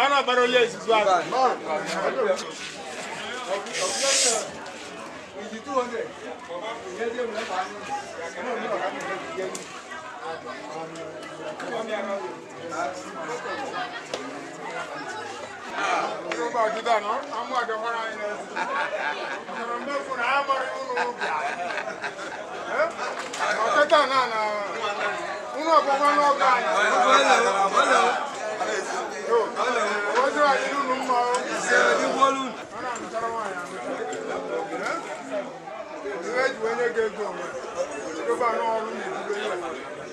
a na-agbara onye izizi ahụ Thank you.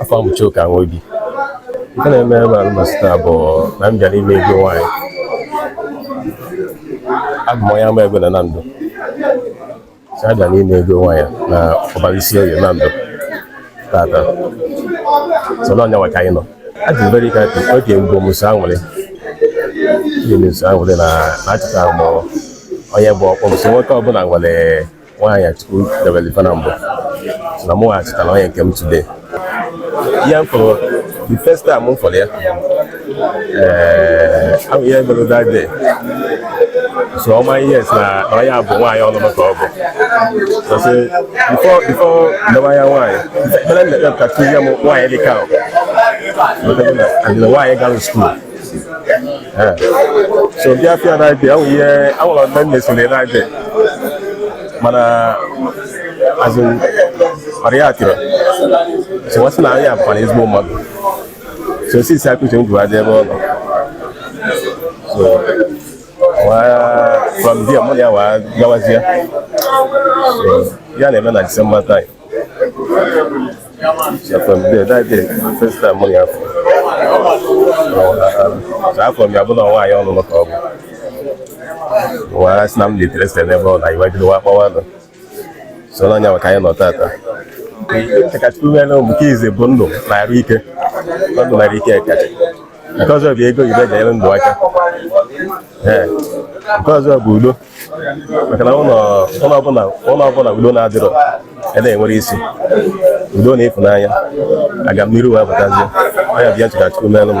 afa m bụ Chuka Nwobi nke na-eme ebe alụmasị taa bụ na m bịara ime ego nwaanyị abụ m onye Amaego na Nando so abịa m ime ego nwaanyị na Ubaru Isioye Nando tata so na ọnyanwa ka anyị nọ adị m very happy oge mbụ m so anwụrị ihe m so anwụrị na achọta m onye bụ ọkpọ m so nwoke ọbụla nwere nwaanyị Chukwu debere ife na mbụ na mụ achọtara onye nke m today ihe m fụrụ the first time m fụrụ ya ee ahụ ihe mere that day so ọma ihe si na onye a bụ nwaanyị ọlụlụ ka ọ bụ so sị before before ndewa ya nwaanyị ekpere m na-ekpe ka Chukwu zie m nwaanyị dị ka ahụ adịla nwaanyị gara school si so bịa fụ ya that day ahụ ihe awụla ndị nne sole that day mana azụ mara ya atịrị so wa sị nwaanyị a bụkwa ezigbo mmadụ so since ka uche m jụrụ adị ebe ọ nọ so from there mụ na ya wee gawazie ya na-eme na December time afụ m ya bụ na nwaanyị ọlụlụ ka ọ bụ wee sị na m interested n'ebe ọ nọ anyị wee bido wa kpọwa nụ so na ọnyanwa ka anyị nọ tata chọ ka Chukwu meere m nke izizi bụ ndụ na arụ ike ndụ na arụ ike kacha nke ọzọ bụ ego ife ga-enyere ndụ aka nke ọzọ bụ udo maka na ụlọ ọbụla ụlọ ọbụla udo na-adịrọ ede enwere isi udo na ịfụnanya agamniru wee batazie ọ ya bụ ihe m chọ ka Chukwu meelu m